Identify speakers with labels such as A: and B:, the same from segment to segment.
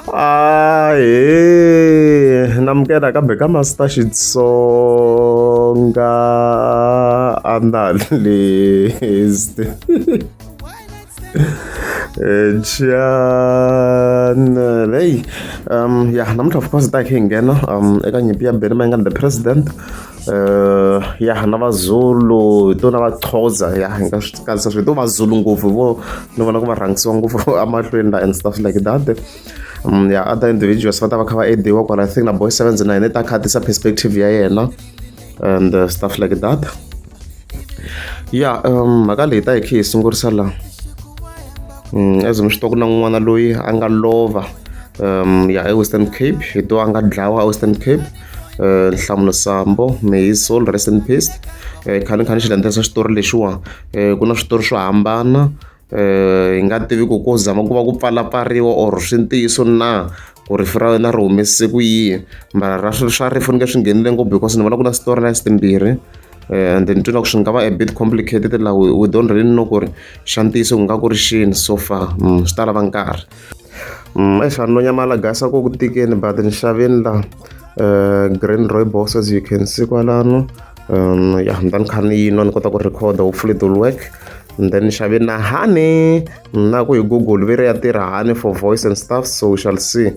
A: ahe namukela kambe ka master xitsonga analyst channel hey um ya namuntlha of course ta khe hi nghena um eka nyimpi ya beni mayingani the president Uh, ya na vazulu hi to na vaxhosa ya hi nga swi katsisa swi hi to vazulu ngopfu vo ni vona ku va rhangisiwa ngopfu emahlweni la and stuff like that um, ya other individuals va ta va kha va ediwa kwala i think na boy sevens na yena i ta kha tisa perspective ya yena and uh, stuff like that ya um, mhaka leyi ta hi khe hi sungurisa la um, as mi swi twa ku na n'wana loyi a nga lova um, ya ewestern cape hi to a nga dlawa ewestern cape eh, nhlamulo sambo may his soul rest in peace eh, khani khani xi landzelisa xitori lexiwa eh, ku na switori swo hambana hi nga tivi ku ko zama ku va ku pfalapfariwa or swi ntiyiso na ku rifu ra wena ri humesise ku yihi mara ra swa rifu ni nge swi nghenile ngopfu because ni vona ku na switori na sitimbirhi Eh, and then twi loko swi nga va a bit complicated la we don't really know ku ri xa ntiyiso ku nga ku ri xini so far mm, swi ta lava nkarhi Mm, exani no nyamala gasa ku ku tikeni but nxaveni la uh, eh, green roybos as you can see kwalano um, ya ni ta ni kha ni yinwa ni kota ku recorda hopefully it will work and then nxaveni na hani na ku hi google ve ri ya tirha hani for voice and stuff so we shall see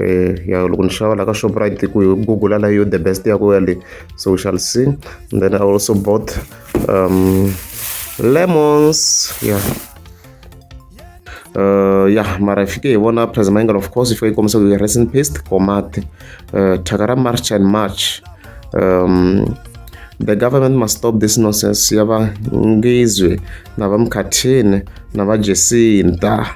A: eh, ya loko ni xava la ka shoprite ku hi google la yo the best ya ku ya le so we shall see and then i also bought um, lemons yeah Uh, ya mara fike hi vona president mangle of course fike yi kombisa ku rest in paste komati uh, thyaka ra march and march um, the government must stop this nonsense ya va ngizwe na va mkhathini na va jesinta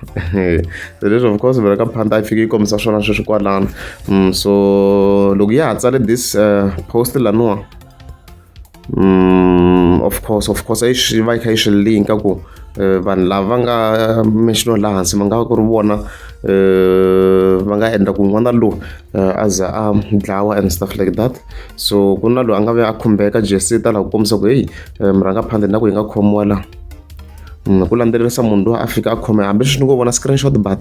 A: so leswi of course vela ka phanda yi fike yi kombisa swona sweswi kwalano um, so loko ya ha tsale this uh, post laniwa Mm, of course of course i swi va yi kha yi swi linka ku eh, vanhu lava va nga mentiono laha hansi va nga va ku ri vona eh, va nga endla ku n'wana lowu eh, a za a dlawa and stuff like that so ku na loyi a nga ve a khumbeka jesita laha ku kombisa ku heyi murhangaphandle na ku yi nga khomiwa laha mm, ku landzelerisa munhu loyi a fika a khome hambi swi ni ngo vona screenshot but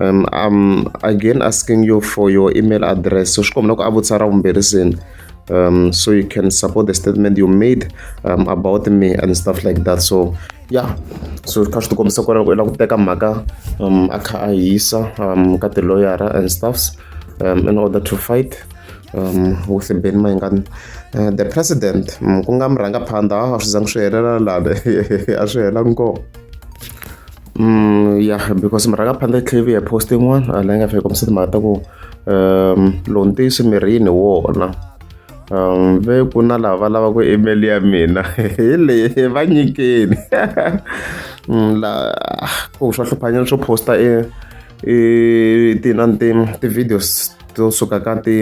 A: um I'm again asking you for your email address so swi kombela ku a vutisa ra vumbirhi seni um, so you can support the statement you made um, about me and stuff like that so yeah so kha swi tikombisa ku loko i lava ku teka mhaka um, a kha a hisa um, ka tiloyara and stuffs um, in order to fight um, with ben maingani uh, the president um, ku nga murhangaphandha a swi zangi swi helela lani a swi hela nkoka Mm, yeah because murhangaphandle tlhave ya post yin'wana a leyi nga fika kombisa timhaka ta ku um lowu ntiyiso mirini wona um ve ku na lava va lavaka email ya mina hi leyi va nyikeni mm, la ku swa hluphanyana swo posta e i ti na ni ti ti-videos to suka ka ti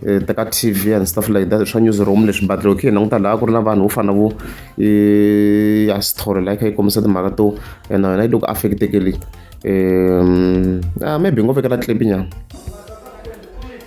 A: Eh, teka tv and stuff like that swa newsroom leswi but loko khe hi languta laha ku ri na vanhu vo fana vo eh, ya story laha kha yi kombisa timhaka to and na yona yi loko affectekeli um ah, maybe ngo vekela clip nyana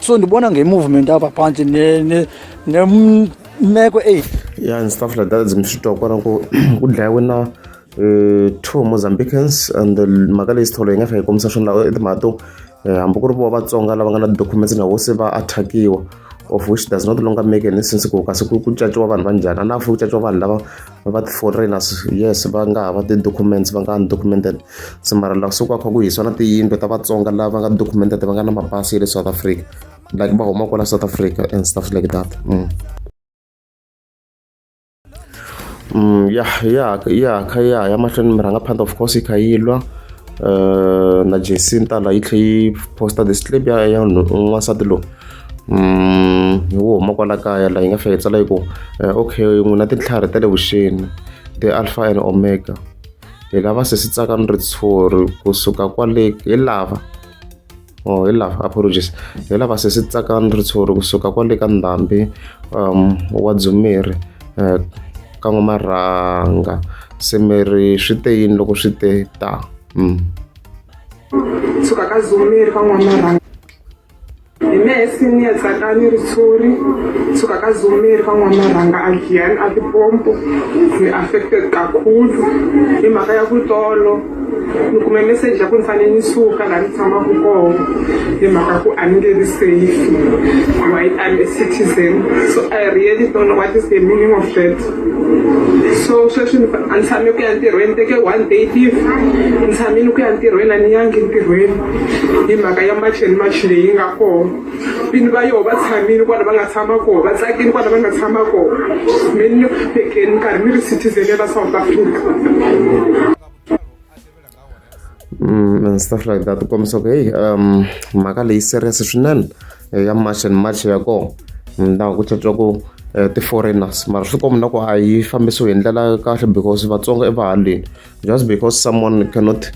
B: so ndibona
C: nge-movement apha phantsi nemeko eyi ya and stuff
A: like that zimshitwa kwana kudlaya kwena um eh, two mozambicans and mhaka leyi sitholo yi nga fika yi kombisa swona lawa timhaka to eh, hambi ku ri vo vatsonga lava nga na documents na vo se va attackiwa of which does not longer make any sense ku kasi ku caciwa vanhu va njhani a na fo ku caciwa vanhu lava va va ti-foreigners yes va nga ha va ti-documents va nga undocumented se mara laha kusuka kha ku hisiwa na tiyindlu ta vatsonga lava nga documented va nga na mapasi ya le south africa like va huma kwala south africa and stuff like that mm. Mm, ya ya ya kha ya ya mahlweni mi rhanga phanda of course yi kha yi lwa uh, na jacinta la yi tlhe yi posta this clip ya ya n'wansati lowu hi wo huma kwala kaya la yi nga fika yi tsala yi ku eh, okay n'wina tintlhari ta le vuxeni ti alpha and omega hi lava se swi tsaka ni ritshuri kusuka kwale hi lava o oh, hi lava apologies hi lava se swi tsaka ni ritshuri kusuka kwale ka ndhambi um wa dzumeri um eh, ka n'wamarhanga se miri swi te yini loko swi te ta mm. suka ka dzumeri ka n'wamarhanga
D: hi me hi senior tsakani ritshuri suka ka zomeri ka n'wana rhanga a giyani a tipompo ni affected kakhulu hi mhaka ya ku tolo ni kume message ya ku ni fanele ni suka laha ni tshamaka koho hi mhaka ku a ni nge ri safe why I'm a citizen so I really don't know what is the meaning of that so sweswi a ni tshame ku ya ntirhweni teke one day leave ni tshamile ku ya ntirhweni a ni yangi ntirhweni hi mhaka ya macheni machi leyi nga kona vini va yoho va tshamile kwala va nga tshama koho va tsakile kwala va nga tshama koho mi ni tekeni nkarhi mi ri citizen ya la south africa
A: Mm, and stuff like that u kombisa ku heyi um mhaka leyi serious swinene eh, ya march and march ya kona ndaku ku tlhetliwa ku eh, ti-foreigners mara swi kombi na ku a yi fambisiwi hi ndlela ya kahle because vatsonga i vahaleni Just because someone cannot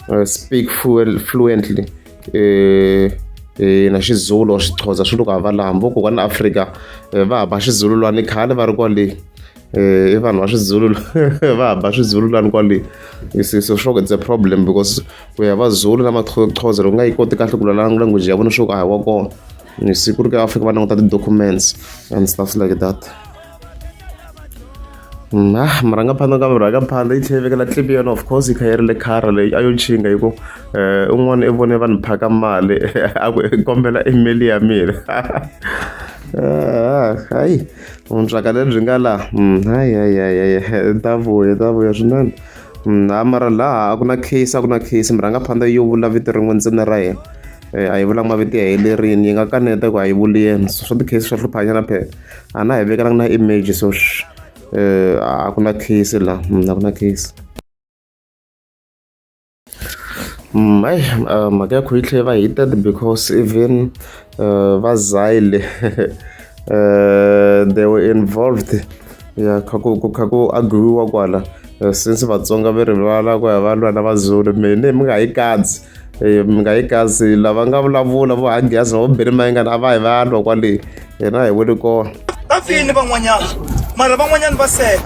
A: uh, speak fluently uh, Eh, na xizulu or xixhoza swi loko hava laha vo kokwana afrika eh, va hamba xizulu lwani khale va ri kwale eh, i vanhu va swizulu va hamba swizulu lwani kwale so sure it's a problem because ku ya vazulu na maxhoza loko nga yi koti kahle ku lwala language ya vona sure ku a hi wa kona ni siku ri ka fika va languta ti-documents and stuff like that na mm, murhangaphandza ah, ka murhangaphandza yi tlhela vekela tlipi yona of course yi kha yi ri le khara leyi a yo chinga hi ku um un'wana i vone vanhu phaka mali a ku kombela email ya mina ah, hayi vuntswaka lebyi nga laha mm, hayi hayi hayi hayi ta vuya ta vuya swinene mm, a mara laha a ku na case a ku na case murhangaphandza yo vula vito rin'we ntsena ra yena a yi vulanga mavito ya helerile yi nga kaneta ku a yi vuli yena so swa ti-case swa hluphanyana phela a na hi vekelanga na image so um a ku na case la mm, a ku na case mm, ayi uh, mhaka ya kho yi tlhe va hited because even uh, va zile uh, they were involved ya kha ku kha ku agriwa kwala since vatsonga va rivala ku ya va lwa na vazulu mene mi nga yi kadzi Eh, mi nga yi kasi lava nga vulavula vo hanghiyazi va vambirhi mayingani a va hi va lwa kwale hina hi wele kona va fini
C: van'wanyana mara van'wanyana va sele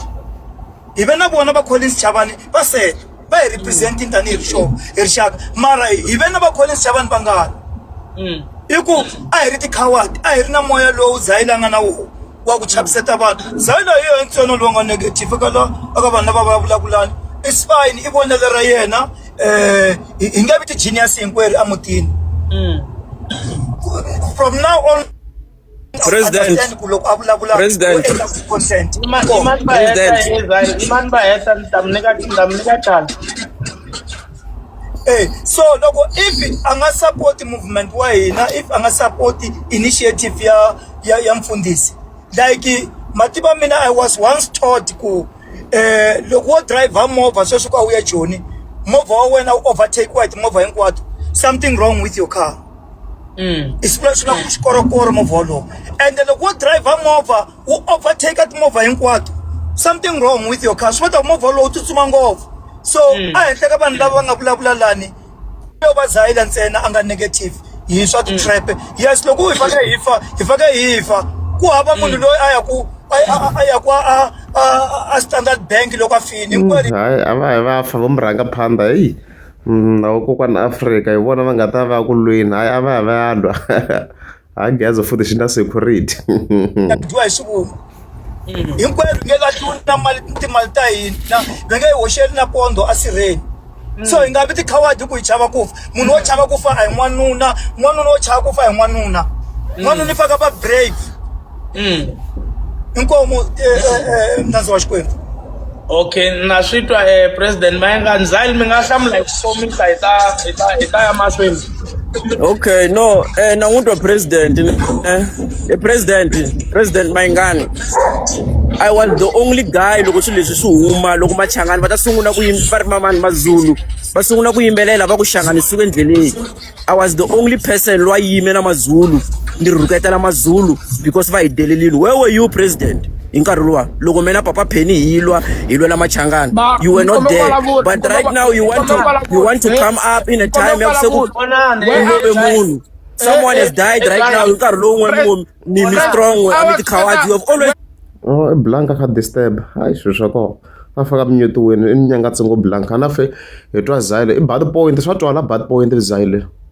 C: hi ve na vona va collins chavani va sele va hi representing tanihi rixovo hi rixaka mara hi ve na va collins chavani va ngani i ku a hi ri ti-coward a hi ri na moya lowu zayilanga na wona wa ku chaviseta vanhu zana hi yena ntsena lowu nga negative eka la eka vanhu lava vulavulani i fine i vonelo ra yena um hi nge vi ti-genius hinkwerhu emutini mm. from now on president
E: president
C: Hey, so loko if anga support movement wa hina if anga support initiative ya ya ya mfundhisi like matimu ya mina i was once taught ku eh loko wo driver movha sweswi ku a wu ya joni movha wa wena wu overtakiwa hi timovha hinkwato something wrong with your car i swi vula swi nga ku xikorokoro movha wolowo ende loko wo driver movha wu overtake timovha hinkwato something wrong with your car swi vula ku movha wolowo wu tsutsuma ngopfu so a henhla ka vanhu lava va nga vulavula lani yo va zayila ntsena a nga negative hi swa ti-trap yes loko hi fake hi fa hi fake hi fa ku hava munhu loyi a ya ku a a- a ya ku a a- a- a standard bank loko a fini hinkwerhu hayi a va hi
A: va fa va mu rhanga phanda heyi Mm, na vakokwana afrika hi vona va nga ta va ya ku lweni hayi a va hi va ya lwa ha geza futhi xi na security dyiwa
C: hi swivungu hinkwerhu nge ka tluli na mali timali ta hina ve nge yi hoxeli na pondo a sirheni so hi nga vi tikhawadi ku hi chava ku fa munhu wo chava ku fa a hi n'wanuna n'wanuna wo chava ku fa hi n'wanuna n'wanuna i faka va brave inkomo mnandzi wa xikwembu okay
E: na swi twa um president mayenga ndzali mi nga hlamula hi ku komisa hi ta hi ta hi ta ya mahlweni Okay,
F: no, eh, nanguto president, eh, eh, president, president Maingani. I was the only guy loko swilo leswi swi huma loko machangani va ta sungula ku yim- va ri mamani mazulu va sungula ku yimbelela va ku hlanganisiwe endleleni i was the only person loyi a yime na mazulu ni rhuketela mazulu because va hi delelile where were you president hi nkarhi luwa loko mina papa pheni hi lwa hi lwela machangana you were not there but right now you want to you want to come up in a time ya se ku love munhu someone has died right now hi nkarhi lowu n'we mi mi strong we mi tikhawadi you have always oh blanka
A: ka disturb hayi swilo swa kona va faka minyutiweni i nyangatsongo blanka na fe hi twa zayile i bad point swa twala bad point zayile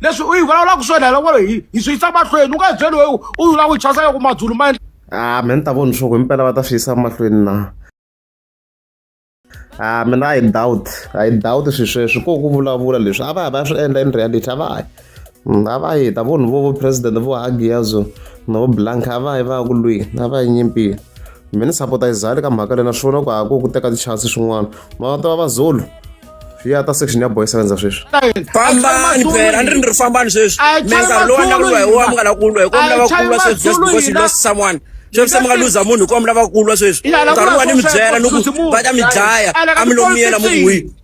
G: leswi u yi vulavulaka swona hi loko hi hi swi yisa mahlweni u nga byeli weyi u yi
A: lava u chasa loko madzulu ma a me ni ta voni swoko himpela va ta swi yisa mahlweni na a mina a hi doubt a hi doubt swi sweswi ko ku vulavula leswi a va ya va ya swi endla in reality a va yi mm, a va yi ta voni vo vo president vo hagiyazo na vo blank a va yi va ya ku lwini a va yi nyimpini mina ni sapota izali ka mhaka leyi na swi vona ku hako ku teka ti-chance swin'wana mara tiva va zulu swi ya ta section ya boy sevenza sweswi fambani
F: phela a ni ri ni ri fambani sweswi mi nkarhi lowu a ni lava ku lwa hi wona mi nga lava ku lwa hi kona mi lava ku lwa sweswi just because you lost someone sweswi se mi nga luza munhu hi kona mi lava ku lwa sweswi nkarhi lowu a ni mi byela ni ku va ta mi dlaya a mi lo miyela mu ku hwini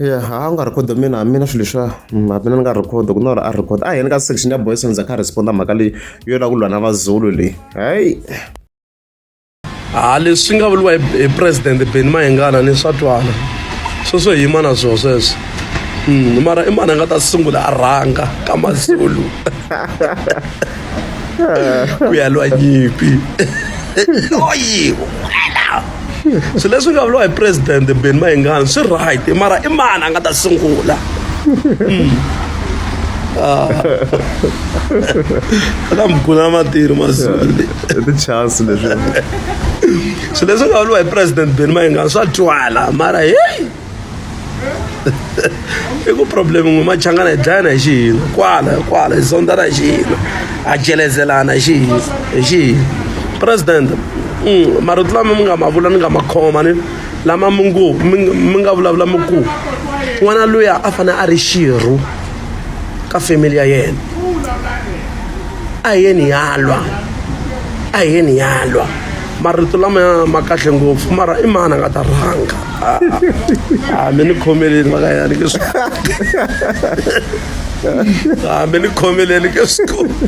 A: Ya ha a wu nga record mina mina swilo leswiya a mina ni nga record ku na or a record a hi yeni ka section ya boys ndza kha respond mhaka leyi yo lava ku lwa na vazulu leyi hayi ha
H: leswi nga vuriwa hi president beni mayengana ni swa twana sweswo hi yima na swo sweswo hmm, mara i mani a nga ta sungula a rhanga ka mazulu ku ya lwa nyimpi loyi wena swilo leswi nga vuriwa hi president ben mayengani swi right mara i mani a nga ta sungula hmm. ah. na mukuna matiri masiku tichance
A: leswi
H: swilo leswi nga vuriwa hi president ben mayengani swa twala mara heyi i ku problem n'we machangana hi dlayana hi xihina kwala kwala hi zondzana hi xihina ha jelezelana hi xihina hi xihina president mm, marito lama mi nga ma vula ni nga ma khoma ni lama mi ngo mi nga vulavula mi ku n'wana luya a fanele a ri xirho ka family ya yena a hi yeni yalwa a hi yeni yalwa marito lamaya ma kahle ngopfu mara i mani a nga ta rhanga a ah, ah, ah, mi ni khomeleni vakayani ke swi a mi ni khomeleni ke swi koti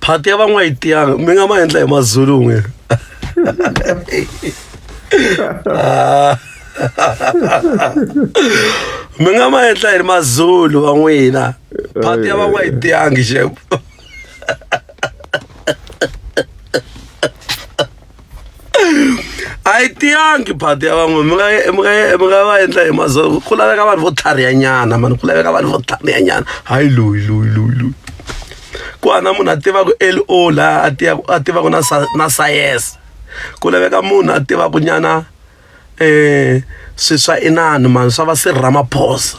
H: phati ya van'wa yi tiyanga mi nga ma endla hi mazulu n'we mi nga ma endla hi ri mazulu va n'wina phati ya va n'wa yi tiyangi xep a yi tiyangi phati ya van'we mi nga mi nga mi nga va endla hi mazulu ku laveka vanhu vo tlharihanyana mani ku laveka vanhu vo tlharihanyana hayi loyi loyi loyi loyi ku hana munhu a tivaka l o laha a tivaka a tivaka na na sayense ku laveka munhu a tivaka nyana um swiswa inani mani swa va sir ramaphosa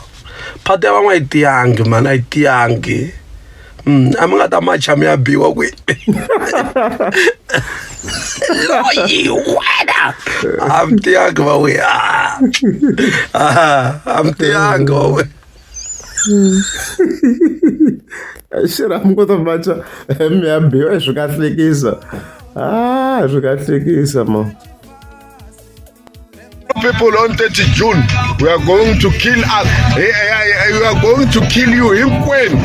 H: phati ya van'wa a yi tiyangi mani a yi tiyangi um a mi nga ta macha mi ya biwa kwi loyi wena a mi tiyangi va we a mi tiyangi va we
A: xira mi kota macha mi ya biwa hi swi kahlekisa a hi swi kahlekisa ma
I: people on 30 June, we are going to kill us. Eh, eh, eh, We are going to kill you hinkwenu.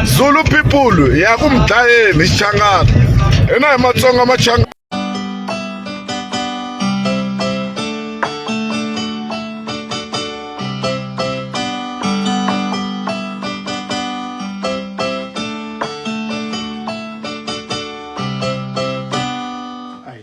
I: Zulu people, ya ku mdlayeni xichangana. Hina hi Matsonga machangana.